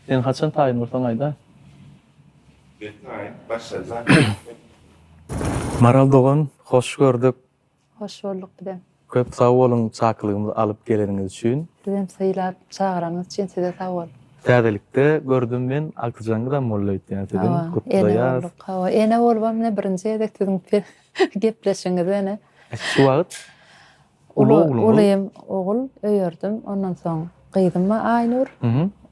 Sen haçan taýyn bolsaň aýda. Men taýyn başarjak. Maral dogan hoş gördük. Hoş bolduk bizem. Köp sag boluň çakylygymyzy alyp geleniňiz üçin. Bizem sylap çagyranyňyz üçin size sag bol. Täzelikde gördüm men Agtyjaňyzam molla öýtýän siziň gutlaýas. Hawa ene bolubam ine birinji gezek siziň Gepleşiňiz ene. Şu wagt uly ogluňyz. Ulym ogul öýerdim. Ondan soň gyzym bar Aýnur.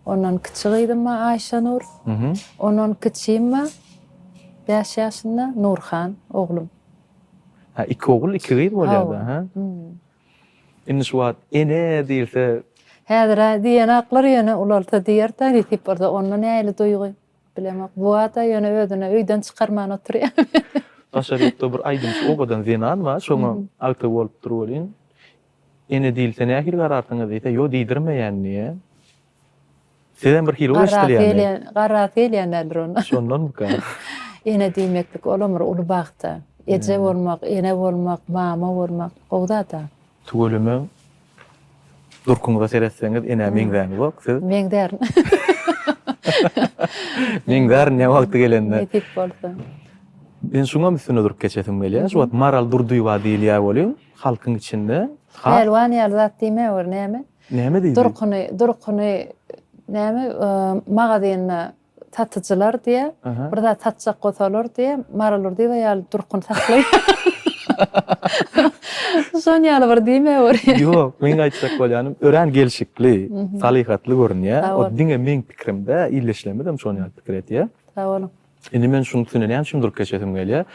Ondan kiçi gyzym bar Aýşanur. Ondan kiçim bar bäş ýaşynda Nurhan oglum. Hä, iki ogul, iki gyz bolýar-da, hä? Indi şu wagt ene diýilse. Häzir-ä diýen aklar ýöne ulalsa diýer-dä nesip bolsa onda nähili duýgy? Bilemok bu ada ýöne özüne öýden çykarman oturýa. Daşary ýurtda bir aýdymçy owadan zenan bar şoňa agta bolupdyr welin ene diýilse nähili gararsyňyz diýse ýok diýdirmeýän diýýä. Sizem bir hili bir eşdilýäni. Garasy gelýändir onda. Şondanmyka. Ene diýmeklik olam bir uly bagtda. Eje bolmak, ene bolmak, mama bolmak gowy zada. Tüweleme Durkuňyza seretseňiz enä meňzäňizok siz. Meňzärin. Meňzärin ne wagty gelende. Nesip bolsa. Men şuňam üstüne durup geçesim gelýär. Şu wagt Maral Durdyýewa diýilýär welin, halkyň içinde Pälwan ýaly zat diýmäwer näme? Näme diýdi? Durkuny, durkuny näme magazynda Satyjylar diýä, bir zat satjak bolsalar diýä, Mary Lurdyýewa ýaly durkuny saklaýar. Şon ýaly bir diýme bir. Ýok, meň aýtjak bolýanym, örän gelşikli, salyhatly görünýär. O diňe meň pikirim dä, illeşlemizem şon ýaly pikir edýär. Sag boluň. Indi men şuny tüneneýän şum durup geçesim gelýär.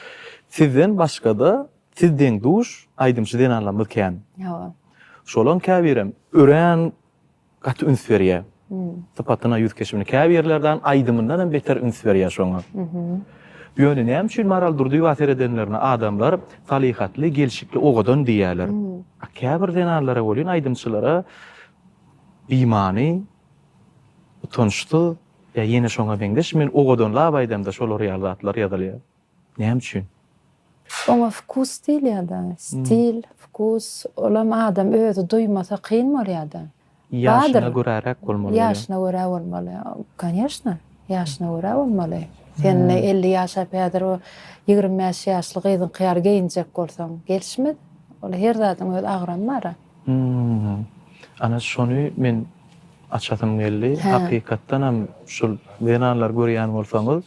Sizden başgada siz deň-duş aýdymçy zenanlarymyz kän. Ýa. Şolaň käbirem örän gaty üns berýär. Sypatyna, ýüz keşbine, käbirlerden aýdymyndanam beter üns berýär şoňa. Ýöne näme üçin Maral Durdyýewa seredenlerine adamlar salyhatly, gelşikli owadan diýýärler. A käbir zenanlara welin, aýdymçylara bimany, utançsyz ýa ýene şoňa meňzeş, men owadanlap aýdamda şolar ýaly zatlar ýazylýar. Näme üçin? Oňa wkus diýilýärda, stil, wkus, olam adam özi duýmasa kyn bolýarda. Ýaşyna göräräk bolmaly bolýar. Ýaşyna görä bolmaly. Kanyýeşna, ýaşyna görä bolmaly. Sen indi elli ýaşap häzir o ýigrimi bäş ýaşly gyzyňky ýaly geýinjek bolsaň, gelişmez. Ol her zadyň öz agramy bar-a. Hmmm ana şony men açasym geldi hakykatdanam şul zenanlary görýän bolsaňyz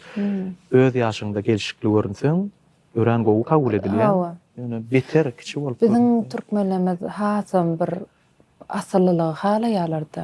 öz ýaşyňda gelşikli görünseň örän gowy kabul edilýäň ýöne beter kiçi bolup görünseň. Biziň türkmenlerimiz hasam bir asyllylygy halaýarlarda.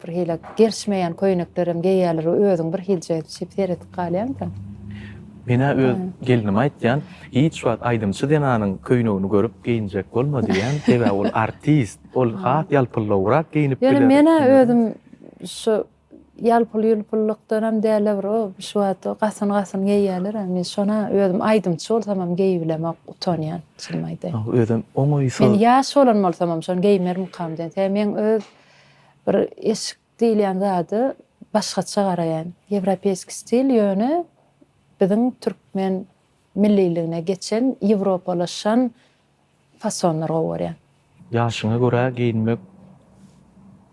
Bir hili gerişmeýän köýneklerem geýýärler, özüň bir hilje şeýdip seredip galýaňda. Men-ä öz gelnime aýtýan, hiç wagt aýdymçy zenanyň köýnegini görüp geýinjek bolma diýýän, sebäbi ol artist, ol has ýalpyllawrak geýinip biler. Ýöne men-ä özüm şu ýalpyl-ýulpullykdanam däl-de bir o, şu wagt o gasyn-gasyn geýýärler-ä, men şony-a özüm aýdymçy bolsamam geýip bilemok, utanýan, çynymy aýdaýyn. Özem oňaýsyz. Men ýaş bolan bolsamam şony geýmermikam diýen, sebäbi meň öz Bir eşik diýilýän zada başgaça garaýan. Ýewropeýski stil ýöne biziň türkmen milliligine geçen ýewropalaşan fasonlar gowy görýän. Ýaşyňa görä geýinmek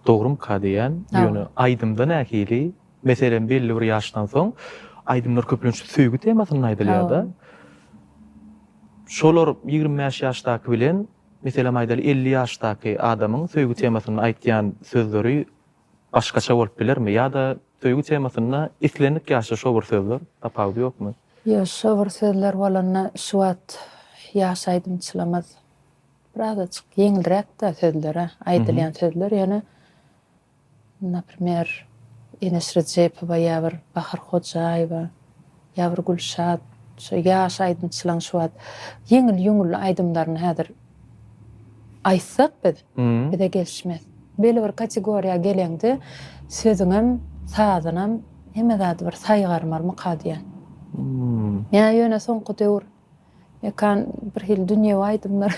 dogrumyka diýýän. Ýöne aýdymda nähili? Meselem belli bir ýaşdan soň aýdymlar köplenç söýgi temasynda aýdylýada. Şolar ýigrimi bäş ýaşdaky bilen Meselem aýdaly elli ýaşdaky adamyň söýgi temasynda aýtýan sözleri başgaça bolup bilermi ýa-da söýgi temasynda islendik ýaşda şo bir sözler tapawudy ýokmy? Ýok şo bir sözler bolanda şu wagt ýaş aýdymçylamyz biraz açyk ýeňilräkdä sözleri aýdylýan sözler ýöne. Naprimer, Enes Rejepowa ýa bir Bahar Hojaýewa, ýa bir Gülşat, şo ýaş aýdymçylaň şu wagt ýeňil-ýuňully aýdymlaryny häzir aýtsak biz, bize gelişmez. Beli bir kategoriýa geleňde sözüňem, sazynam hemme zady bir saýgarmarmyka diýýän. Ýa ýöne soňky döwür. Ekan bir hili dünýewi aýdymlar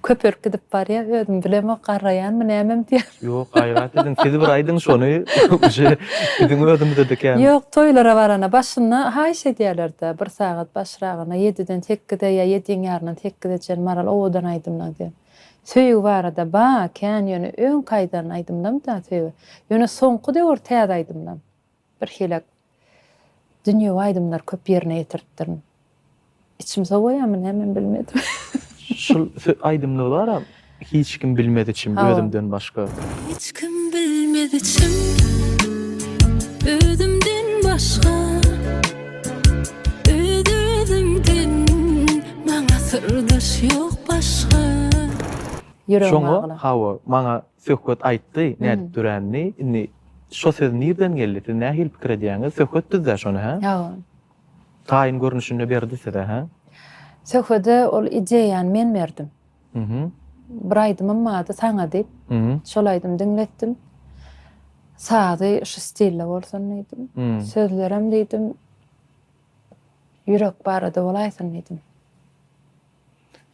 köpelip gidip barýa özüm bilemok garraýanmy nämemi diýýän. Ýok gaýrat ediň siz bir aýdyň şony uje biziň özümizede kän. Ýok toýlara barana başynda haýyş edýälerdä bir sagat başragyna ýediden sekize ýa ýediň ýaryndan sekize çen Maral owadan aýdymlaň diýen. Söýgi barada ba kän ýöne öňki aýdan aýdymlamda söýgi ýöne soňky döwür täze aýdymlam. Birhili dünýewi aýdymlary köp ýerine ýetiripdirin. Içim sowaýamy nämemi bilmedim. Şul aýdymlar bar-a, Hiç kim bilmez içim, özümden başga. Hiç kim bilmez içim, özümden başga. Öz-özüňden maňa syrdaş ýok başga. Ýüregim agla. Şoňa, hawa, maňa Söhbet aýtdy, nädip döränini. Indi şo söz nirden geldi, siz nähili pikir edýäňiz? Söhbet düzdä şony, hä? Ýa. Taýyn görnüşinde berdi size, hä? Söhbede ol ideýany men berdim. Bir aýdymym bardy, Saňa diýip. Şol aýdymy diňletdim. Sazy şu stilde bolsun diýdim. Sözlerem diýdim, ýürek barada bolaýsyn diýdim.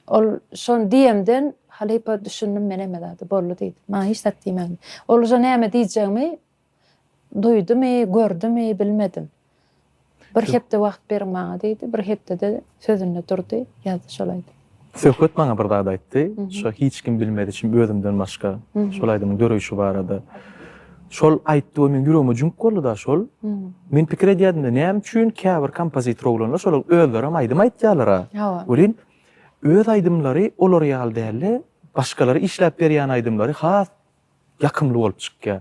Ol şony diýemden, halypa düşündim men hemme zada. Boldy diýdi. Maňa hiç zat diýmän. Oluja näme diýjegimi duýdumy, gördümi, bilmedim. Bir hepde wagt beriň maňa diýdi. Bir hepdede sözünde durdy, ýazdy şolaýda. Söhbet maňa bir zat aýtdy. Şo hiç kim bilmez içim özümden başga. Şol aýdymyň döreýşi barada. Şol aýtdygy meniň ýüregime jüňk boldy-da şol. Men pikir edýärdim-de, näme üçin käbir kompozitor oglanlar şolar özlerem aýdym aýtýarlar-a. Hawa. Welin, öz aýdymlary olar ýaly däl-de, başgalara işläp berýän aýdymlary has ýakymly bolup çykýar.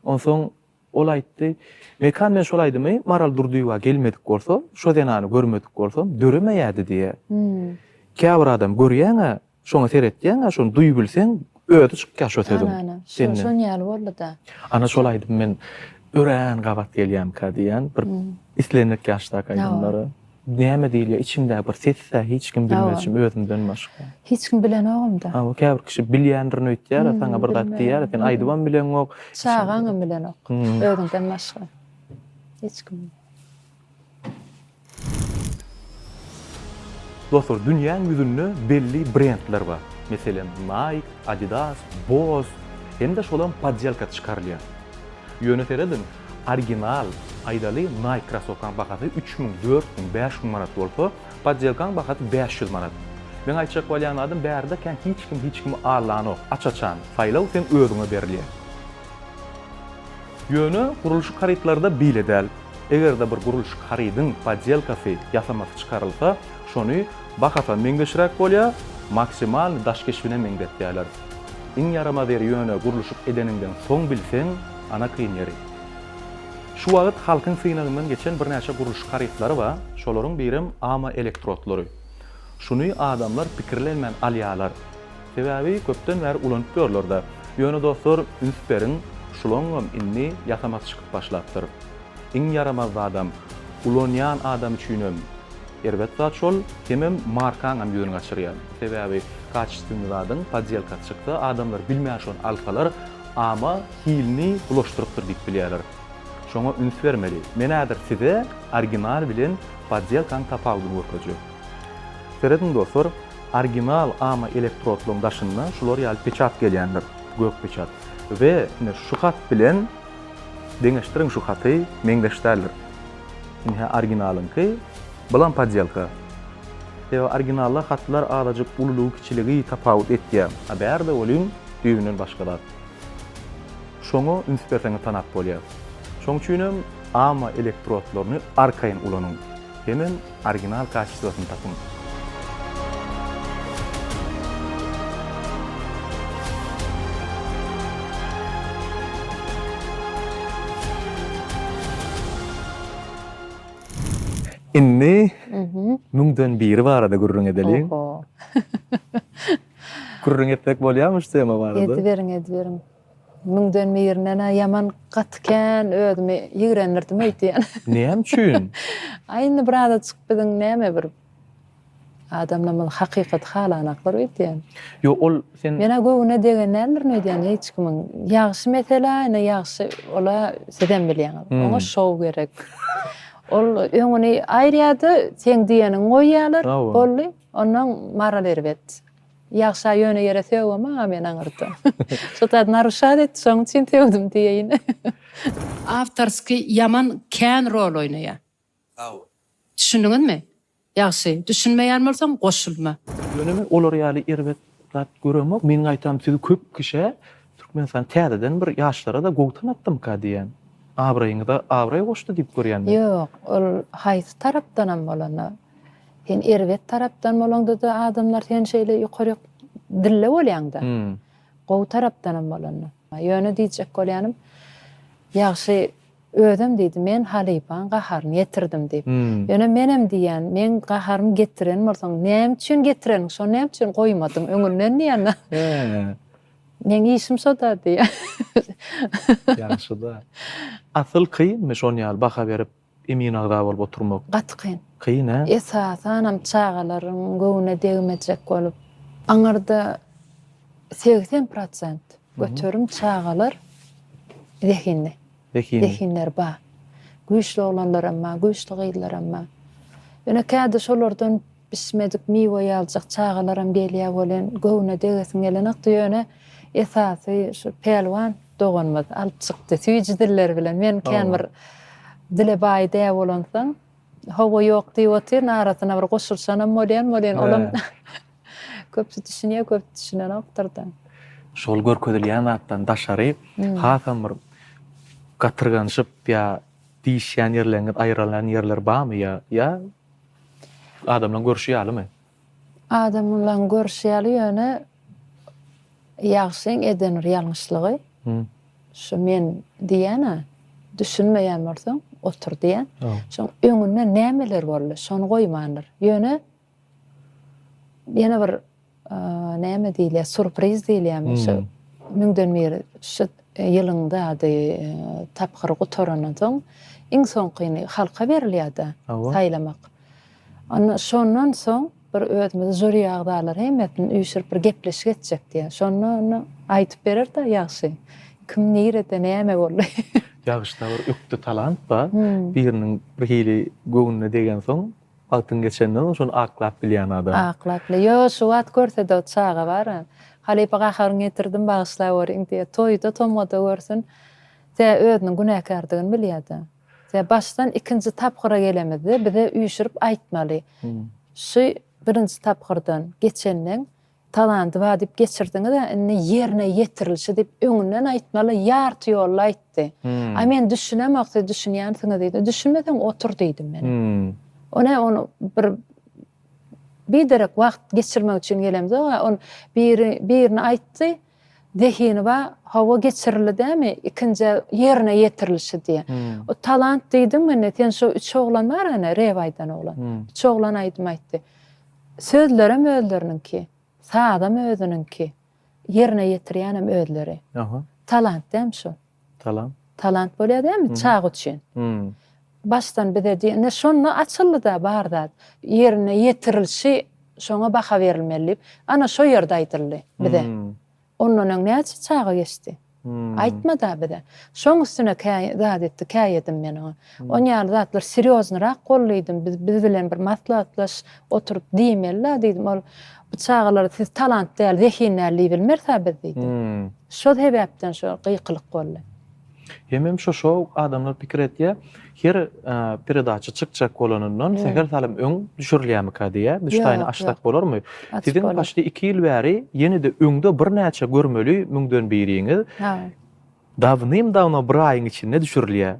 Onsoň ol aýtdy, Mekan men şol aýdymy Maral Durdyýewa gelmedik bolsa, şo zenany görmedik bolsam, döremeýärdi diýýär. Käbir adam görýäň-ä, Şoňa seretýäňä şony duýubilseň özi çykýar şo sözüň. Ana ana şo şon ýaly boldyda. Ana şol aýdym men örän gabat gelýämka diýýän bir islendik ýaşdaky aýdymlary. Näme diýilýär içimdäki bir sesdä hiç kim bilmezçim özümden başga. Hiç kim bilenogumda. Hawa käbir kişi bilýändirin öýtýärä saňa bir zat diýýärä sen aýdybam bileňok. Çagaňam bilenok özüňden başga hiç kim. Dostlar, dünýäň ýüzünde belli brendler bar. Meselem, Nike, Adidas, Boss hem-de şolam poddelka çykarylýar. Ýöne serediň, original, aýdaly, Nike krosowkaň bahasy üç müň, dört müň, bäş müň manat bolsa, poddelkaň bahasy bäş ýüz manat. Meň aýtjak bolýan zadym bärde kän hiç kim hiç kimi allanok. Aç-açan, saýlaw seň özüňe berilýär. Ýöne gurluşyk harytlarda beýle däl. Eger-de bir gurluşyk harydyň poddelkasy, ýasamasy, çykarylsa, şony bahasam meňzeşräk bolýar, maksimalny daş keşbine meňzetýärler. Iň ýaramaz ýeri ýöne gurluşyk edeniňden soň bilseň, ana kyn ýeri. Şu wagt halkyň synagyndan geçen birnäçe gurluşyk harytlary bar, şolaryň birem AMA elektrotlary. Şuny adamlar pikirlenmän alýarlar. Sebäbi köpden bäri ulanyp ýörler-de. Ýöne dostlar, üns beriň, şulaňňam indi ýasamasy çykyp başlapdyr. Iň ýaramaz zadam, ulanýan adam üçinem erbet zat şol, hemem markaňam ýüzüni gaçyrýar. Sebäbi kaçestwny zadyň podýelkasy çyksa, adamlar bilmän şony alsalar, ama hilini bulaşdyrypdyr diýip bilýärler. Şoňa üns bermeli. Men häzir size original bilen podýelkanyň tapawudyny görkezjek. Serediň dostlar, original ama elektrodlaryň daşynda şular ýaly peçat gelýändir, gök peçat. We ine şu hat bilen deňeşdiriň şu haty meňzeş däldir. Indi hä originalyňky, bulam podýelka. Sebäbi originalda hatlar azajyk ululygy kiçiligi tapawut etýär. A bärde welin düýbünden başga zat. Şoňa üns berseňiz tanap bolýar. Şoň üçinem ama elektrodlaryny arkaýyn ulanyň. Hemem Original kaçestwasyn tapyň. Indi müňden biri barada gürrüň edeliň. Oho. Gürrüň etmek bolýarmy şu tema barada? Ediberiň, ediberiň. Müňden birine-ne ýaman gaty kän özümi ýigrendirdim öýtýän. Näme üçin? Aý indi bir azajyk biziň näme bir adamlarymyz hakykaty halanaklar öýtýän. Ýok ol sen. Men-ä göwnüne degen däldirin öýdýän hiç kimiň. Ýagşy mesele, ine ýagşy ol-a sizem bilýäňiz. Oňa şou gerek. Ol öňüni aýyrýar-da, seň diýeniňi goýýarlar, boldy, onnoň maral erbet. Ýagşa ýöne ýere sögem aga men aňyrda. Şu zat naruşat etdi şoň üçin sögdüm diýeýin. Awtorskiý ýaman kän rol oýnaýa. Sagbol. Düşündiňizmi? Ýagşy, düşünmeýän bolsaň goşulma. Ýöne men olar ýaly erbet zat göremok. Meň gaýtam sizi köp kişä Türkmenistan täzeden bir ýaşlara-da gowy tanatdymyka diýýän. Abraýyňyza abraý goşdy diýip görýän men. Ýok, ol haýsy tarapdanam bolanda. Sen erbet tarapdan bolaňda-da adamlar seni şeýle ýokaryk dille bolýaňda. Gowy tarapdanam bolanda. Ýöne diýjek bolýanym, ýagşy özem diýdi, men halypaň gaharyny getirdim diýip. Ýöne menem diýýän, meň gaharymy getiren bolsaň, näme üçin getireniň, şony näme üçin goýmadyň öňünden diýýän-ä. Meň işim şo-da diýýän. Ýagşy-da. Asyl kynmy şony ýaly baha berip Emin agza bolup oturmak gaty kyn. Kyn hä? Esasanam çagalaryň göwnüne degmejek bolup. Aňyrda segsen prosent göterim çagalar zehinli. Zehinli. Zehinleri bar. Güýçli oglanlaram bar, güýçli gyzlaram bar. Ýöne kädi şolardan Bişmedik miwe ýaljak çagalaram gelýä welin göwne degesiň gelenokdy ýöne esasy şu Pälwan doganymyz alyp çykdy süýji diller bilen men kän bir dile baý dä bolansoň Hawa ýok diýip otyryn arasyna bir goşulyşanam bolýan welin olam köp düşünýä köp düşünenokdyrda. Şol görkezilýän zatdan daşary hasam bir gatyrganyşyp ýa diýişýän ýerleriňiz aýrylan ýerler barmy ýa Adamlaň görşi ýalymy? Adamlaň görşi ýaly ýöne ýagşyň eden bir ýalňyşlygy şu men diýýän-ä düşünmeýän bolsaň otur diýýän. Şoň öňünde nämeler boldy şony goýmandyr. Ýöne ýene bir Näme diýilýär, surpriz diýilýärmi şu müňden bir şu ýylyň zady tapgyry gutarandan soň iň soňkyny halka berilýär-de saýlamak. Onda şondan soň bir özümizi žuri agzalary hemmesini üýşürip bir gepleşik etjek diýýär. Şonda onda aýdyp berer-de ýagşy kim nirede näme boldy. Ýagşyda bir ökde talant bar. Biriniň birhili göwnüne degensoň Wagtyň geçenden soň şony aklap bilýän adam. Aklap bile. Ýo, şu wagt görsede o çaga bara. Halypa gaharyňy getirdim bagyşlap görýin diýe. Toýda, tomgada görsün. Tä özüniň günäkärdigini bilýär-de. Tä başdan ikinji tapgyra gelemizde bize üýşürip aýtmaly. Şu birinji tapgyrdan geçenden Talandy wadyp geçirdiňiz a indi ýerine ýetirilişi diýip öňünden aýtmaly ýarty ýolda aýtdy. A men düşünemok siz düşünýänsiňiz diýdi. Düşünmeseň otur diýdim men. O ne on bir biderek wagt geçirmek üçin gelemzok a on biri birini aýtdy Zehiniba hawa geçirildi dämi ikinjä ýerine ýetirilişi diýe. O talant diýdiň mende sen şo üç oglan bar ene rep aýdan oglan. Üç oglan aýdym aýtdy. Sözlerem özleriniňki, sazam özüniňki, ýerine ýetirýänem özleri. Talant dämi şol. Talant. Talant bolýar dämi çaga üçin. Başdan bize diýen. Ine şonda açyldy-da bar zat. Ýerine ýetirilişi şoňa baha berilmeli diýip. Ana şo ýerde aýdyldy bize. Ondan öň näçe çaga geçdi. Aýtmady-a bize. Şoň üstüne kä zat etdi, käýedim men oňa. On ýaly zatlar serýoznyrak boldy diýdim. Biz bilen bir maslahatlaş oturyp diýmeli-la diýdim. Ol Bu çagalar siz talant däl, zehin däl diýip bilmeris-ä biz diýdi. Şo sebäpden şo gykylyk boldy. Hemem şo-şo adamlar pikir etýär, her peredaça çykjak bolanyndan sähel salym öň düşürilýärmikä diýýär. Düşdäýne aşsak bolarmy? Siziň başda iki ýyl bäri ýene-de öňde birnäçe görmeli müňden biriňiz Dawnym-dawno bir aýyň içinde düşürilýä.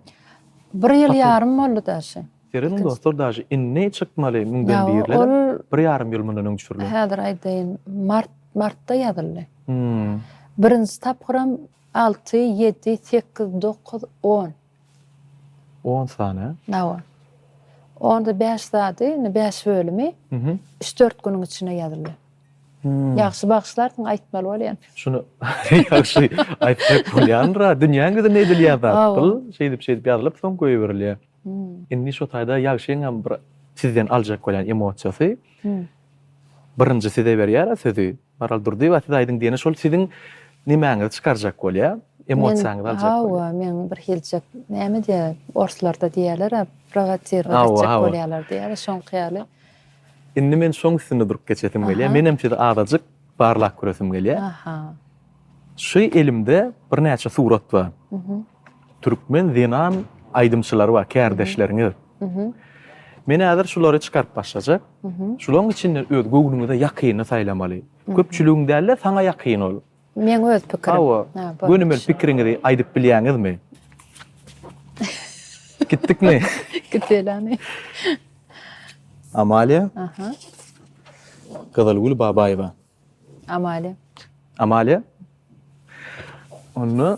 Bir ýyl ýarym boldy daşy. Serediň dostlar daşy inni çykmaly müňden birler bir ýarym ýyl mundan öň düşürilen. Häzir aýdaýyn mart martda ýazyldy. Birinji tapgyram alty ýedi sekiz dokuz on. On sany. Nawa. Onda bäş zady, indi bäş bölümi üç-dört günüň içinde ýazylýar. Ýagşy bagyşlarsyň, aýtmaly bolýan. Şuny ýagşy aýtsak bolýandyr-a. Dünýäň ýüzünde edilýän zat bul. Şeýdip-şeýdip ýazylyp, soň goýberilýär. Indi şu taýda ýagşyň hem bir sizden aljak bolýan emosiýasy. Birinji size berýär-ä sözi. Maral Durdyýewa siz aýdyň diýene şol siziň nemäňizi çykarjak bolýa, emosiýaňyzy aljak bolýa. Hawa men bir hiljek näme diýä orslarda diýýälera prowatirowat etjek bolýalar diýýäler şoňky ýaly. Indi men şoň üstünde durup geçesim gelýä. Menem sizi azajyk barlap köresim gelýä. Aha. Şu elimde birnäçe surat bar. Türkmen zenan aýdymçylary bar, kärdeşleriňiz. Men häzir şulary çykaryp başlajak. Şularyň içinden öz göwnüňize ýakynyny saýlamaly. Köpçüligiň däl-de, saňa ýakyn ol. Meň öz pikirim. Hawa, gönümel pikiriňizi aýdyp bilýäňizmi? Gitdikmi? Giteli. Amalia. Aha. Gyzylgül Babaýewa. Amalia. Amalia. Onda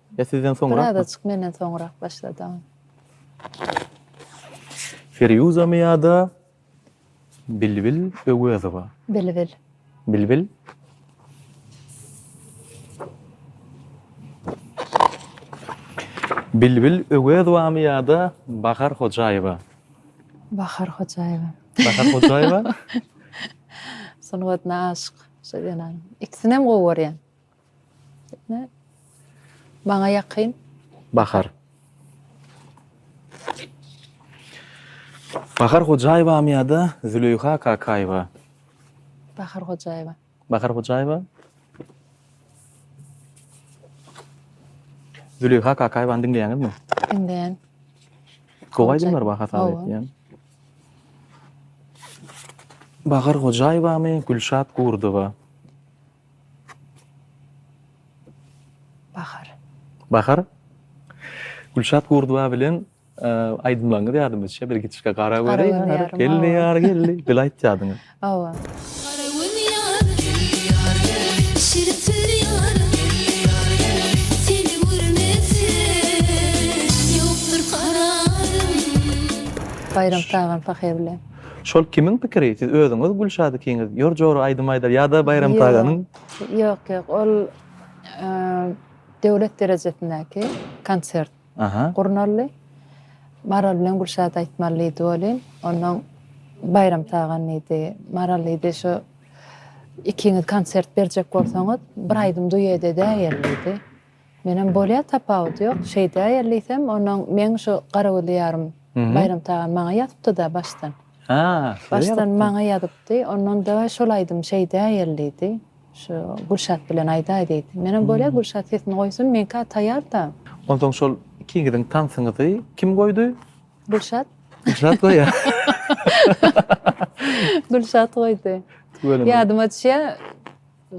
Ýa sizden soňrakmy? Birazajyk menden soňrak başlady. Firýuzamy ýa-da Bilbil Öwezowa? Bilbil. Bilbil. Bilbil Öwezowamy ýa-da Bahar Hojaýewa? Bahar Hojaýewa. Bahar Hojaýewa. Sungatyna aşyk şo zenan. Ikisinem gowy görýän. Maňa ýakyn. Bahar. Bahar Hojaýewamy ýa-da Züleýha Kakaýewa? Bahar Hojaýewa. Bahar Hojaýewa. Züleýha Kakaýewany diňleýäňizmi? Diňleýän. Gowy aýdymlar bar hasap edýän. Bahar Hojaýewamy, Gülşat Gurdowa? Bahar. Bahar. Gülşat Gurduba bilen aýdymlaryňyz ýadyma düşýär. Bir gitişge gara göri ýar geldi, ýar geldi. Bil aýtýadyňyz. Hawa. Baýram Tagan Pahe bilen. Şol kimiň pikiri? Siz özüňiz Gülşat ikiňiz ýör jora aýdym aýdar ýa-da Baýram Taganyň? Ýok, ýok, ol döwlet derejesindäki konsert gurnaldy. Maral bilen Gülşat aýtmaly diýdi welin, onnoň Baýram Tagan diýdi, Maral diýdi, şu ikiňiz konsert berjek bolsaňyz, bir aýdym duet edäýeli diýdi. Menem bolýa tapawudy ýok şeýdäýeli diýsem onuň meň şu garagülli ýarym Baýram Tagan maňa ýazypdyda başdan. Ha size ýazypdy. Başdan maňa ýazypdy ondan daway şol aýdym şeýdäýeli diýdi şu Gülşat bilen aýdaý diýdi. Menem bolýa Gülşat sesini goýsun meňka taýarda. Onsoň şol ikiňiziň tansyňyzy kim goýdy? Gülşat. Gülşat goýa. Gülşat goýdy. Ýadyma düşýä.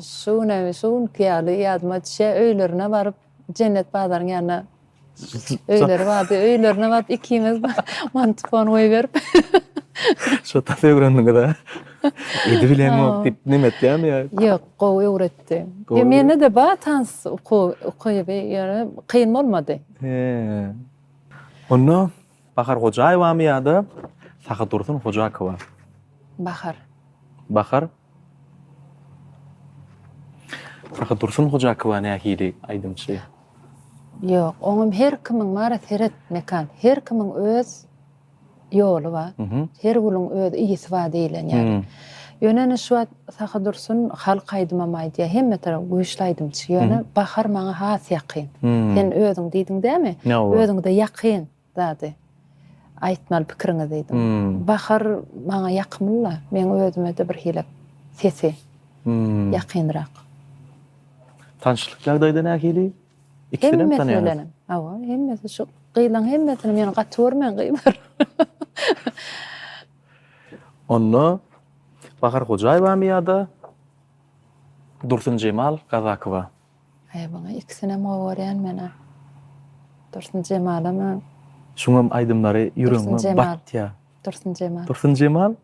Şu gün hem şu günki ýaly ýadyma düşýär, öýlerine baryp, Jennet bazaryň ýanyna öýleri bardy, öýlerine baryp ikimiz mantipon goýberip. Şo tas öwrendiňiz-ä. Edi bileňok diýip neme etýärmi ýa? Ýok, gowy öwretdi. Gowy. Mende-de bar tans ukyby, ýöne kyn bolmady. He. Onda Bahar Hojaýewamy ýa-da Sahy Dursun Hojakowa? Bahar. Bahar. Sahy Dursun Hojakowa nähili aýdymçy? Ýok, oňam her kimiň bar, seret Mekan, her kimiň öz ýoly bar, her gülüň öz yýsy bar diýilen ýaly. Ýöne indi şu wagt Sahy Dursun halk aýdymam aýdýar, hemme tarap güýçli aýdymçy, ýöne Bahar maňa has ýakyn. Sen özüň diýdiň dämi? Özüňde ýakyn. Zady. Aýtmaly pikiriňi diýdim. Bahar maňa ýakymly-la, meň özüme-de birhili sesi ýakynrak. Tanşlyk ýagdaýda nähili? Ikisinem tanýaňyz? Hemmesi bilenem. Hawa, hemmesi şu gyzlaň hemmesini meni gaty görmäň gyzlar. Onda Bahar Hojaýewamy ýa-da Dursunjemal Kazakowa? Aý muňa ikisinem gowy görýän menä. Dursun Jemalamy? Şuňam aýdymlary ýüregiňe batýa. Dursun Jemal. Dursun Jemal.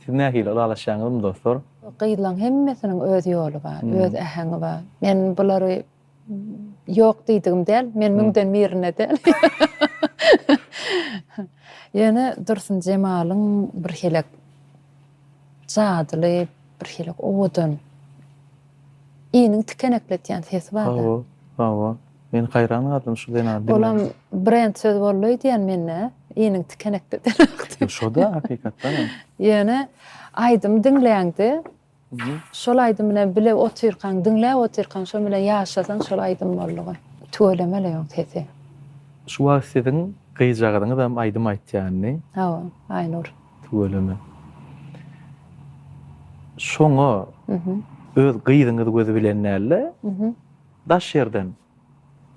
Siz nähili ylalaşýaňyzmy dostlar? Gyzlaň hemmesiniň öz ýoly bar, öz äheňi bar. Men bulary ýok diýdigim däl, men müňden birine däl. Ýöne Dursun Jemalyň birhili Jadyly bir hili owadan iniň tikenekletýän sesi bar da. Hawa, hawa. Men haýran galdym şu zenany diňläp. Olam brend söz boldy öýdýän mende, iniň tikenekledeni hakda. Şoda hakykatdan hem. Ýöne aýdymy diňläňde, şol aýdym bilen bile otyrkaň, diňläp otyrkaň, şonuň bilen ýaşasaň şol aýdym boldugy. Tüweleme-le ýoň sesi. Şu wagt siziň gyzjagazyňyzam aýdym aýtýandy. Hawa, Aýnur. Tüweleme. Şoňa öz gyzyňyz gözi bilen däl-de, daş ýerden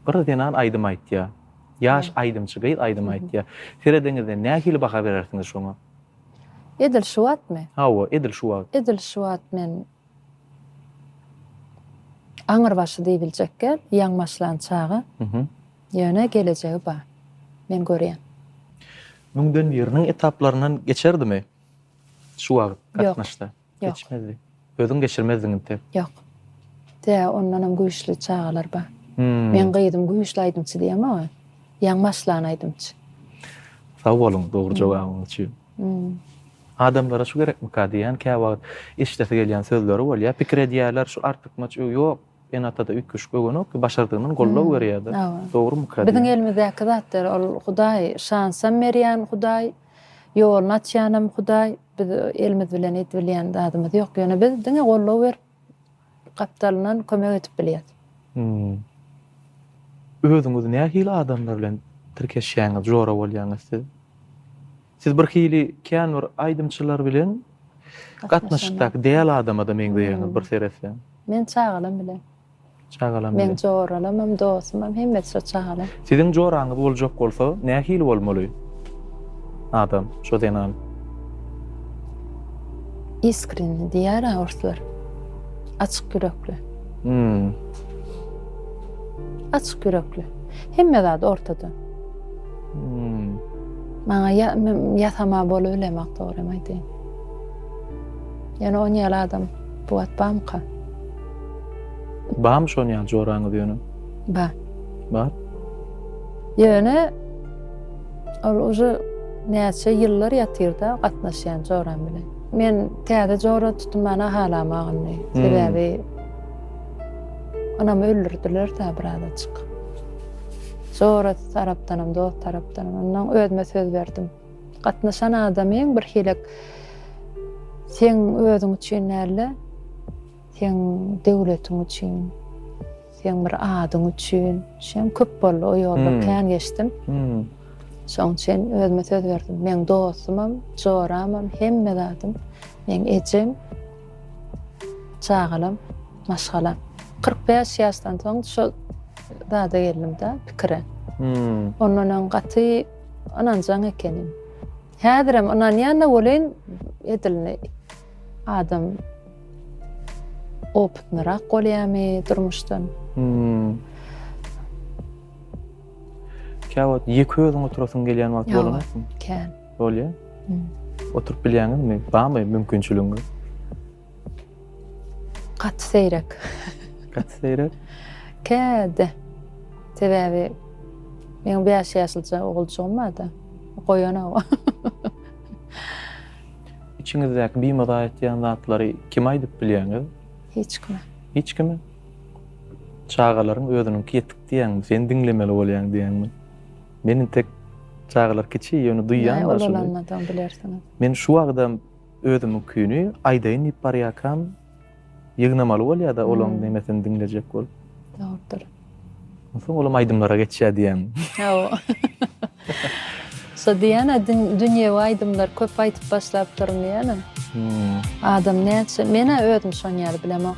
bir zenan aýdym aýtýar. Ýaş aýdymçy gyz aýdym aýtýar. Serediňizde nähili baha berersiňiz şoňa? Edil şu wagtmy? Hawa, edil şu wagt. Edil şu wagt men aňyrbaşy diýibiljekkä, ýaňy başlan çaga. Ýöne gelejegi bar. Men görýän. Müňden biriniň etaplaryndan geçerdimi şu wagt gatnaşsa? Geçmezdi. Özüň geçirmezdiň intek. Ýok. Tä ondanam güýçli çagalar bar. Meň gyzym güýçli aýdymçy diýýän maňa. Ýaň başlan aýdymçy. Sag boluň dogry jogabyňyz üçin. Adamlara şu gerekmika diýýän käwagt eşidesi gelýän sözleri bolýar. Pikir edýärler şu artykmaç öý ýok. Enatada üýtgeşik öwenok ki başardygyndan goldaw berýärdi. Dogry mykra. Biziň elimizdäki zatlar ol hudaý şansam berýän hudaý ýoluny açýanam hudaý biz elimiz bilen edip bilýän zadymyz ýok ýöne biz diňe goldaw berip gapdalyndan kömek edip bilýäs. Özüňiz nähili adamlar bilen tirkeşýäňiz jora bolýaňyz siz? Siz bir hili kän bir aýdymçylar bilen gatnaşykdaky däl adama-da meňzeýäňiz bir seretseň. Men çagalam bilen. Çagalam bilen. Meň joralamam, dostumam hemmesi şo çagalam. Siziň joraňyz boljak bolsa nähili bolmaly adam, şo zenan? Iskreni diýär-ä orslar. Açyk ýürekli. Hmm. Açyk ýürekli. Hemme zat ortada. Maňa ýasama bolubilemak dogrymy aýdaýyn. Ýöne on ýaly adam bu wagt bamyka? Bamy şon ýaly joraňyz ýöne? Ba. Bar. Ýöne ol uzu näçe ýyllar ýatyrda gatnaşýan joram bilen. Men täze jora tutunmana halamagyn diýdi. Hmm. Sebäbi onam öldürdiler da bir azaçyk. Jorasy tarapdanam, dost tarapdanam. Onnoň özüme söz berdim. Gatnaşan adamyň birhilek seň özüň üçin däl-de, seň döwletiň üçin, seň bir adyň üçin. Şem köp boldy, o ýolda kän geçdim. Şoň üçin özüme söz berdim. Meň dostumam, joramam, hemme zadym, meň ejem. Çagalam, maşgalam. Kyrk bäş ýaşdan soň şol zada geldim-de, pikire. Ondan öň gaty ynanjaň ekenim. Häzirem ynanýan-da welin, edilini adam opytnyrak bolýarmy durmuşdan? Käwagt ýeke özüň oturasyň gelýän wagty bolanokmy? Kän. Bolýar. Oturyp bilýäňizmi? Barmy mümkinçiligiňiz? Gaty seýrek. Gaty seýrek? Käde. Sebäbi meniň 5 ýaşlyja oguljygym bar-da. Goýanok. Içiňizdäki bimaza etýän zatlary kime aýdyp bilýäňiz? Hiç kime. Hiç kime? Çagalaryň özüniňki ýetik diýýäňmi? Sen diňlemeli bolýaň diýýäňmi? Men intek çagalar kiçi ýöne duýýan da şuny. Ulalanmadan bilersiňiz. Men şu wagtam özümiňkini aýdaýyn diýip barýarkam ýygnamaly bolýada olaň nemesini diňlejek bolup. Dogrudyr. Onsoň olam aýdymlara geçýär diýýän. Hawa. Şo diýýän-ä dünýewi aýdymlar köp aýdyp başlapdyryn diýýän-ä. Adam näçe men-ä özüm şony ýaly bilemok.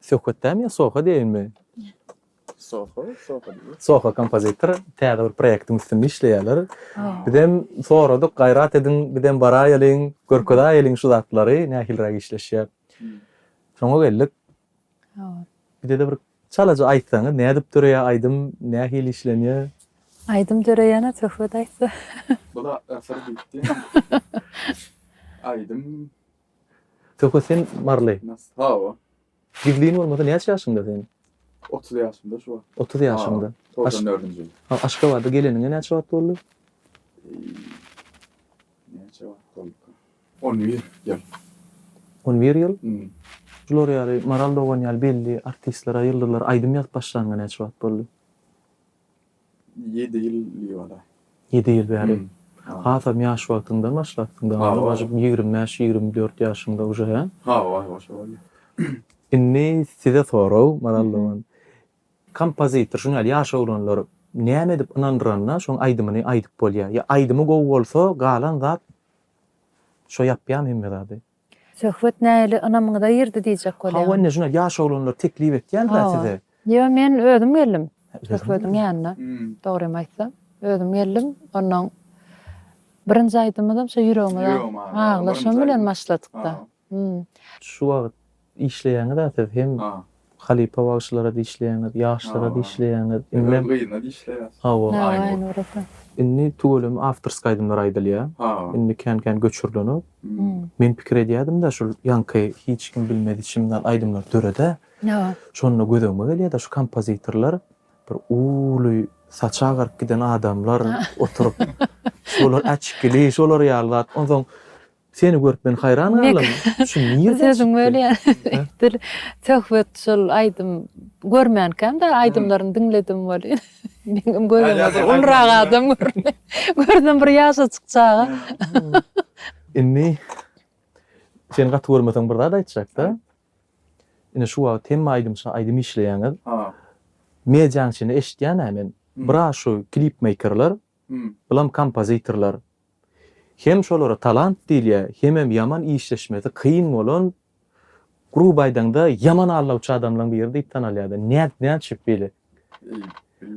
Söhbetdämi ýa Soho diýeýinmi? Soho, Soho diýeýin. Soho kompozitor täze bir proýektiň üstünde işleýärler. Bizem soradyk, gaýrat ediň, bizem baraýalyň, görkezäýeliň şu zatlary, nähiliräk işleşýär. Şoňa geldik. Bizede bir çalaja aýtsaňyz, nädip döreýär aýdym, nähili işlenýär? Aýdym döreýäne söhbet aýtsa. Bu zatlar syr diýipdi. Aýdym. Söhbet sen barly. Hawa. Gizlin bolmasa näçe ýaşyňda sen? Otuz ýaşymda şu wagt. Otuz ýaşyňda. Togsan dördünji ýyl. Ha, Aşgabada geleniňe näçe wagt boldy? Näçe wagt bolupdyr? On bir ýyl. On bir ýyl? Şular ýaly Maral dogan ýaly belli artistlere, ýyldyzlara aýdym ýazyp başlanyňa näçe wagt boldy? Ýedi ýyl diýip alar. Ýedi ýyl bäri. Hasam ýaş wagtyňdan başlapsyň dogana başyp ýigrimi bäş ýigrimi dört ýaşyňda uje hä? Hawa hawa şo bolýa. Indi size sorag Maral dogan. Kompozitor şuny ýaly ýaş oglanlar näme edip ynandyranda şoň aýdymyny aýdyp bolýa? Ýa aýdymy gowy bolsa galan zat şo ýapýamy hemme zady? Söhbet nähili ynamyňyza girdi diýjek bolýan. Hawa indi şuny ýaş oglanlar teklip etýärler size. Ýo men özüm geldim Söhbediň ýanyna dogrymy aýtsam özüm geldim onnoň birinji aýdymymyzam şo ýüregime aglaşym bilen başladykda. Şu wagt işleýäňiza siz hem Halypa bagşylara dişleýäňiz, ýaşlara dişleýäňiz. Indi men gyzyna dişleýäs. Hawa. Aýnura. Indi tüweleme awtorska aýdymlar aýdylýa. Indi kän kän göçürilenok. Men pikir edýädim-de şul ýaňky hiç kim bilmez içimden aýdymlar dörede. Şonda gözegime gelýäde şu kompozitorlar bir uly saçy agaryp giden adamlar oturyp şolar äçkili şolar ýaly zat. Onsoň Seni görüp men haýran galdym. Şu nirden çykdy? Sözüň bölýän. Dil söhbet şol aýdym görmänkäm-de aýdymlaryny diňledim welin. Meňem gözüme ulurak adam göründi. Görsem bir ýaşajyk çaga. Indi seni gaty görmesem bir zat aýtjakda. Ine şu wagt hemme aýdymçy aýdym işleýäňiz. Medianyň içinde eşitýän-ä men. Biraz şu klipmeýkerler Bulam kompozitorlar. Hem şolara talant diýilýä, hemem ýaman işleşmesi kyn bolan, gruby aýdaňda ýaman aldawçy adamlaň biri diýip tanalýada. Nädip nätşip beýle?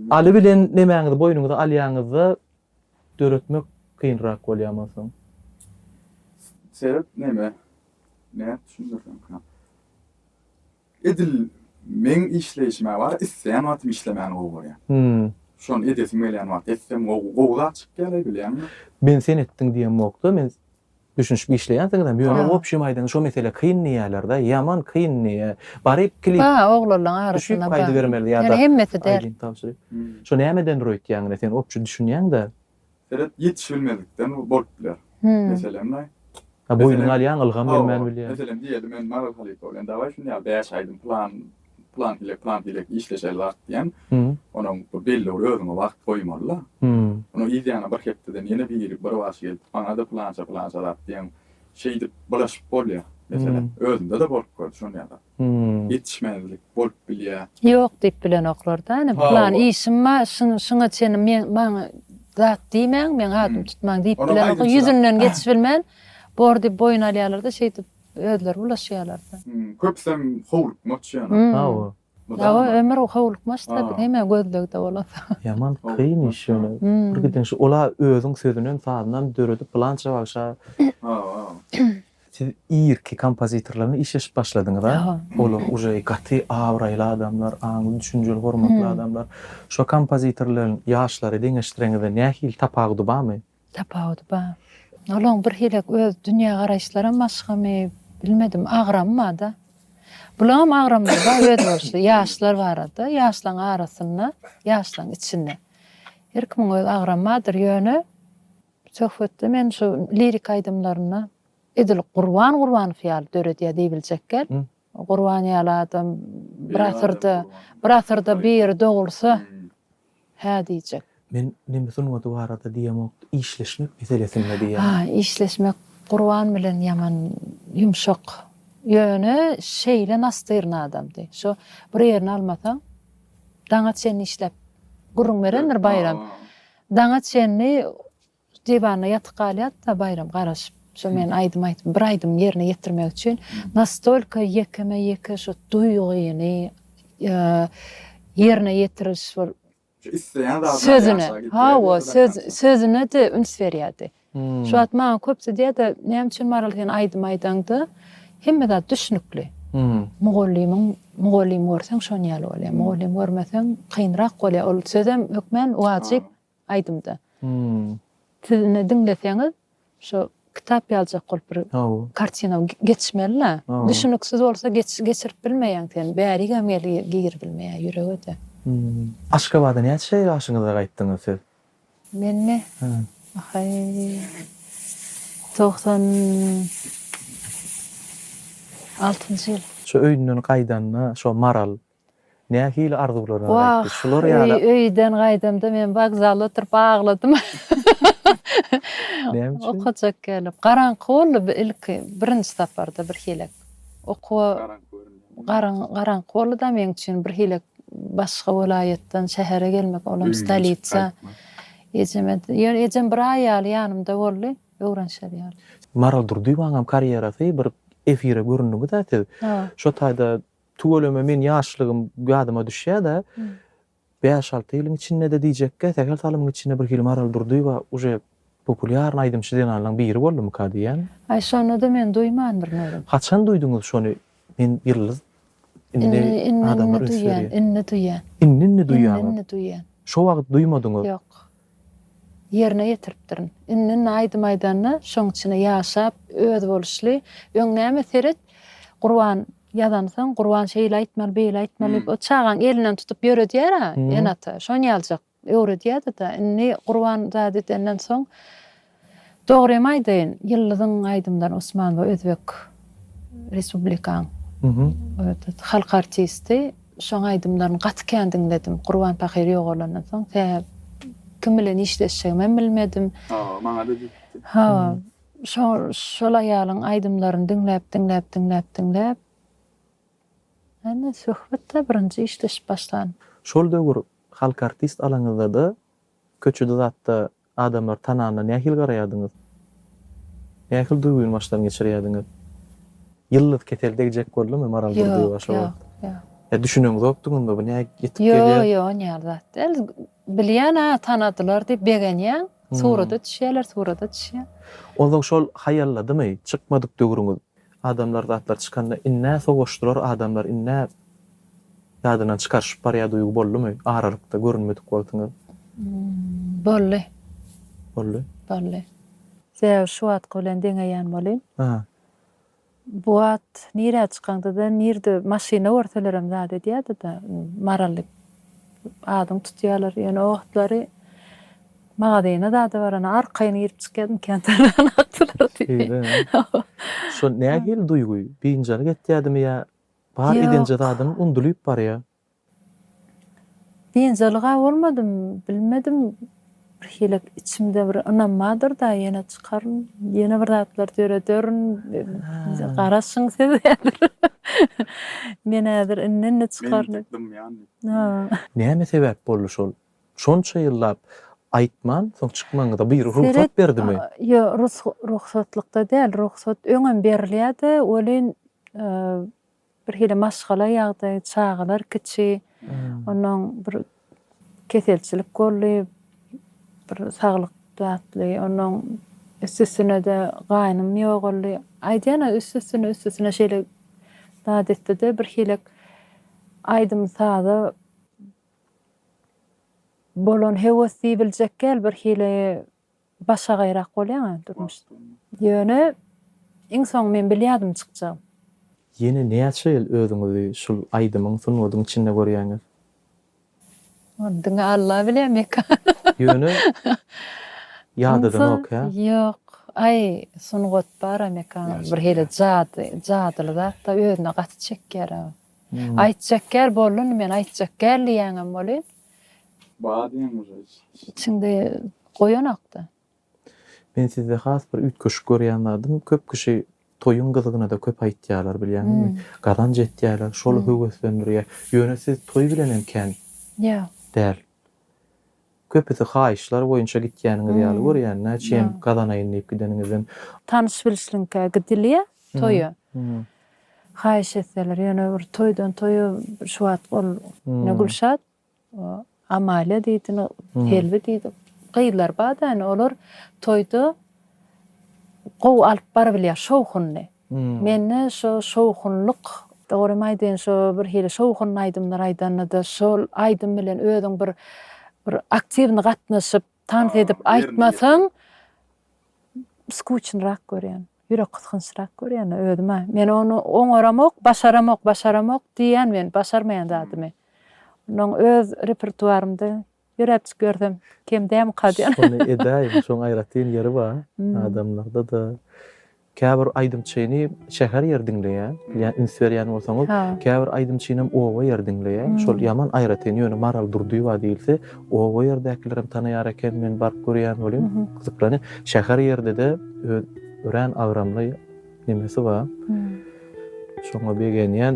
Aly bilen nemäňizi boýnuňyza alýaňyzda döretmek kynrak bolýa monsoň. Sebäp neme? Nädip düşündirseňka? Edil meň işleýşime bar isleýän wagtym işlemän gowy görýän. Şony edesim gelýän wagty etsem gowy gowy zat çykýalaý bilýäňmi? Men sen etdiň diýemokda men düşünişip işleýänsiňizem ýöne obşim aýdan şo mesele kyn diýýälerde ýaman kyn diýýä baryp klip Ba oglanlaň arasynda ba ýöne hemmesi däl. Şo nämeden durýa öýtýäňine sen obşi düşünýäňdä Seret, ýetişibilmezlikden bolup biler. Meselem, naý? Ha, boýnuňa alýaň, ylgam gelmän bilýär. Hawa, meselem, diýeli, men Maral halypa bilen dawaý, şuny ýaly bäş aýdym plan, plan hile, plan hile işleşeli wagt diýen. Onuň bir belli bir özüňe wagt goýmaly-da. Onuň yz ýanyna bir hepdeden ýene biri bir baş gelip, maňa-da plança, plança zat diýen, şeýdip, bulaşyp bolýar. Meselem, özümde-de bolup gördi şuny ýaly zat. ýetişmezlik bolup bilýär. Ýok diýip bilenoklar da ine plan işim bar şuňa çenli men maňa zat diýmäň meň adymy tutmaň diýip bilenoklar ýüzünden geçibilmän bor diýip boýun alýarlarda şeýdip özleri bulaşýarlarda. Köpüsem howlukmaç ýöne. Hawa. Hawa ömür howlukmaç tabi heme gözlegde bolasa. Ýaman kyn iş ýöne birgiden şu ola özüň sözünem sazynam döredip pylança bagşa Siz irki kompozitorlaryň işleşip başladyňyz a? Olar uje gaty abraýly adamlar, aňly, düşünjeli, hormatly adamlar. Şo kompozitorlaryň ýaşlary deňeşdireňizde nähili tapawudy barmy? Tapawudy bar. Olaň bir hili öz dünýä garaýyşlaram başgamy, bilmedim, agramy barda. Bulaňam agramlary bar öz bolşy, ýaşlar barada, ýaşlaň arasynda, ýaşlaň içinde. Her kimiň öz agramy bardyr, ýöne Söhbetde men şu lirik aýdymlarynda edil Gurban Gurbanow ýaly döredýär diýibiljekgel. Gurban ýaly adam bir asyrda, bir asyrda biri dogulsa, hä diýjek. Men neme sungaty barada diýemok, işleşmek meselesinde diýýän. Ha, işleşmek Gurban bilen ýaman ýumşak. Ýöne şeýle nastyryn adamdy. Şo bir ýerini almasaň, daňa çenli işläp gürrüň berendir Baýram. Daňa çenli diwanda ýatyp galýardy-da Baýram garaşyp, şo men aýdym aýdyp, bir aýdym ýerine ýetirmek üçin nastolka ýekeme-ýeke şu duýgyny ýerine ýetiriş bol Şu isleýän zadyny ýaşa gitýärdi. Hawa, sözüne-de üns berýärdi. Şu wagt maňa köpsi diýýärdi, näme üçin Maral sen aýdym aýdaňda hemme zat düşnükli. Mugallymyň mugallym görseň şon ýaly bolýar. Mugallym görmeseň kynrak bolýar. Ol sözem hökmän wajyp aýdymda. Siz indi diňleseňiz şu kitap ýaljak bolup bir kartina geçmeli-le. Düşnüksiz bolsa geçirip bilmeýäň sen. Bärigem girip bilmeýär ýürege-de. Aşgabada näçe ýaşyňyzda gaýtdyňyz siz? Menmi? Ahaý. Togsan altynjy ýyl. Şu öýünden gaýdanda şo Maral nähili arzuwlar bilen gaýtdy? Şular ýaly. Wah, öýden gaýdamda men wokzalda oturyp agladym. Näme üçin? Okajak gelip. Garaňky boldy ilki, birinji saparda birhili. Okuwa. Garaňky göründi. Garyň garaňky boldy-da meň üçin birhili başga welaýatdan şähere gelmek, olam stolitsa. Ejeme, ýöne ejem bir aý ýaly ýanymda boldy, öwrenişer ýaly. Maral Durdyýewanyňam karýerasy bir efire göründiňiz-ä siz. Şo taýda tüweleme meň ýaşlygym ýadyma düşýär-de, Bäş-alty ýylyň içinde-de diýjekkä, sähel salymyň içinde birhili Maral Durdyýewa uje populýarny aýdymçy zenanlaň biri boldumyka diýýän. Aý şony-da men duýmandyryn özüm. Haçan duýduňyz şony men ýyldyz indi adamlar üns berýär. Indi-indi duýýan, indi-indi duýýan. Indi-indi duýýan. Indi-indi duýýan. Şo wagt duýmadyňyz. Ýok. ýerine ýetiripdirin. Indi naýdym aýdanda şoň içine ýaşap, özboluşly. Öň näme seret, Gurban ýazansoň, Gurban şeýle aýtmaly, beýle aýtmaly diýip, o çagaň elinden tutup ýöredýär-ä ene-ata. Şonýalajak öwredýärdi-de. Indi Gurban zat edenden soň, Dogrymy aýdaýyn, Ýyldyzyň aýdymlary Osman bu özbek respublikaň halk artisti. Şoň aýdymlaryny gaty kän diňledim. Gurban pahyr ýogalandan soň tä kim bilen işleşjegimem bilmedim. Hawa, maňada düşüpdi. Hawa, şol şol aýalyň aýdymlaryny diňläp, diňläp, diňläp, diňläp. Ine söhbetde birinji işleşip başlan. Şol döwür halk artist alaňyzda-da köçede zatda Adamlar tananda nähili garaýardyňyz? Nähili duýgy başdan geçirýärdiňiz? Ýyldyz kesel degjek boldumy Maral Durdyýewa şo wagt? Ýa düşüneňzokdyňyzmy bu näge ýetip gelýär? Ýok, ýok ony ýaly zat däl. Bilýän-ä tanadylar diýip begenýäň. Surata düşýärler, surata düşýär. Onsoň şol haýalladymy? Çykmadyk döwrüňiz. Adamlar zatlar çykanda in-nä sowaşdylar adamlar in-nä Ýadyndan çykaryşyp barýar duýgy boldumy aralykda görünmedik wagtyňyz? Boldy. Boldy. Boldy. Sebäbi şu wagtky bilen deňeýän bolýn. Aha. Bu wagt nirä çykaňda-da nirde maşyna görselerem zat edýärdi-de, Maral diýip adyňy tutýarlar. Ýöne o wagtlary magazyna zada baranda arkaýyn girip-çykýardym, kän tananakdylar diýip. Şeýle. Şol nähili duýgy? Biynjalyk etýärdimi ýa Bar edenje Ýok. zadyň undulyp barýa. Biynjalyga bolmadym, bilmedim, birhili içimde bir ynam bardyr-da, ýene çykaryn, ýene bir zatlar dörederin, Ha. garaşyň siz häzir. Men häzir indi-indi çykaryn. Men ýitip dymýan diýip. Ha. Näme sebäp boldy şol? Şonça ýyllap aýtman soň çykmagyňyza biri rugsat berdimi? Ýo, rugsatlykda däl, rugsat öňem berilýärdi, welin birhili maşgala ýagdaýy, çagalar kiçi, onnoň bir keselçilik boldy, bir saglyk zatly, onnoň üst-üstüne-de gaýnym ýogaldy. Aýdýan-a üst-üstüne, üst-üstüne şeýle zat etdi-de, birhili aýdym-saza Bolan höwes diýibiljek gel bir hili başagaýrak bolýaňa durmuş. Ýöne iň soň men bilýädim çykjagyn. Ýene näçe ýyl özüňizi şul aýdymyň sungatyň içinde görýäňiz? Ony diňe Alla bilýä Mekan. Ýöne ýadadyňok ýa? Ýok. Aý sungat bara Mekan bir hili jady jadyly zatda özüne gaty çekýär. Aýtjak gel bollun men aýtjak gel diýýäňem bolýn. Bar diýen uje içinde. Içinde goýanokda. Men sizde has bir üýtgeşik görýän zadym köp kişi toýuň gyzygynada köp aýtýalar bilýäňizmi? Gazanç etýäler şol höweslendirýä. Ýöne siz toý bilenem kän däl. Köpüsi haýyşlar boýunça gitýäniňiz ýaly görýän, näçeýem gazanaýyn diýip gideniňizden. Tanyş-bilşliňkä gidilýä toýa. Haýyş etseler, ýöne bir toýdan toýa şu wagt ol ne Gülşat, Amalia diýdi, ne Selbi diýdi, gyzlar bar-da, ýöne olar toýda gowy alyp barybilýär şowhunyny. Mende şo şowhunlyk dogrymy aýdyn şo bir hili şowhunly aýdymlar aýdanyda şol aýdym bilen özüň bir bir aktiwny gatnaşyp tans edip aýtmasaň skuçnyrak görýän ýürek gysgynçrak görýän özüme men ony oňaramok başaramok başaramok diýýän men başarmaýan zadymy onnoň öz repertuarymda Ýöräpjik ýörsem kem dälmyka diýen. Şony edäýiň, şoň aýratyn ýeri bar. Adamlarda-da käbir aýdymçyny şäher ýer diňleýär. Bilýän, üns berýän bolsaňyz, käbir aýdymçynam oba ýer diňleýär. Şol ýaman aýratyn. Ýöne Maral Durdyýewa diýilse, oba ýerdekilerem tanaýar eken, men baryp görýän welin, gyzyklanýan. Şäher ýerde-de öz örän agramly. Nemesi bar. Şoňa begenýän.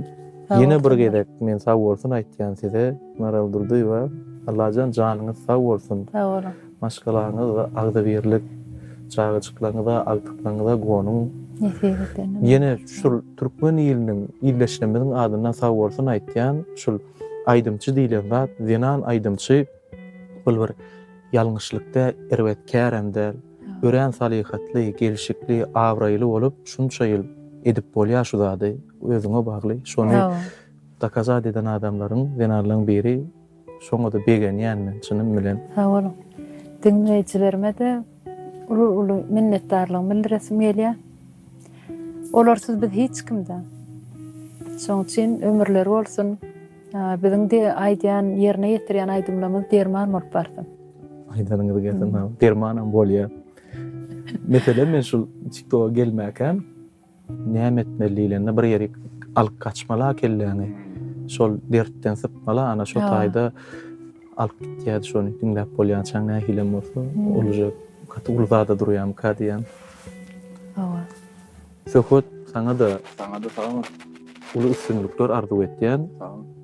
Ýene bir gezek men sag bolsun aýtýan size. Maral Durdyýewa, Allajan janyňyz sag bolsun. Sag boluň. Maşgalaňyz agzybirlik, çagajyklaryňyza, agtyklaryňyza gonuň. Nesip eden. Ýene şul türkmen iliniň, ildeşlerimiziň adyndan sag bolsun aýtýan. Şul aýdymçy diýlen zat, zenan aýdymçy. Ol bir ýalňyşlyk däl, erbet kärem däl. Örän salyhatly, gelşikli, abraýly bolup, şunça ýyl edip bolýar şu zady. Özüňe bagly. Şony dokazat eden adamlaryň, zenanlaryň biri. Şoňa-da begenýän men çynym bilen. Sag boluň. Diňleýjilerime-de uly-uly minnetdarlygymy bildiresim gelýär. Olarsyz biz hiç kim-dä. Şonuň üçin ömürleri bolsun. Biziň de aýdýan ýerine ýetirýän aýdymlarymyz derman bolup barsyn. Aýdanyňyz gelsin ha. Dermanam bolýar. Meselem men şu TikToka gelmäkäm näme etmeli diýlende bir ýeri alyp gaçmala kelläňi. Şol dertden sypmala ana şo taýda alyp gitýär şony diňläp bolýançaň nähilem bolsa. Ol uje gaty uly zada durýamyka diýýän. Hawa. Söhbet saňada. Saňada sagbol. Uly üstünlikler arzuw etýän. Sagbol.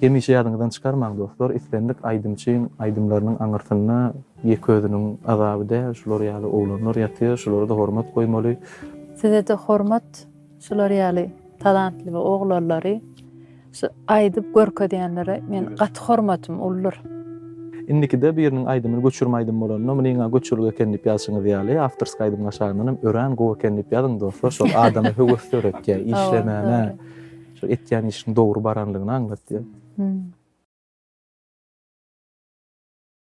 Hemişe ýadyňyzdan çykarmaň dostlar, islendik aýdymçyň aýdymlarynyň aňyrsynda ýeke özüniň azaby däl, şular ýaly oglanlar ýatyr, şulara-da hormat goýmaly. Size-de hormat şular ýaly talantly oglanlary. Şu aýdyp görkezýänlere men gaty hormatym uldur. Indikide biriniň aýdymyny göçürme aýdym bolanda munyňa göçürgi eken diýip ýazyşyňyz ýaly awtorsk aýdymyň aşagyndan hem örän gowy eken diýip ýazyň dostlar şol adama höwes döretýär işlemäne şu etýän işiň dogry baranlygyny aňlatýar.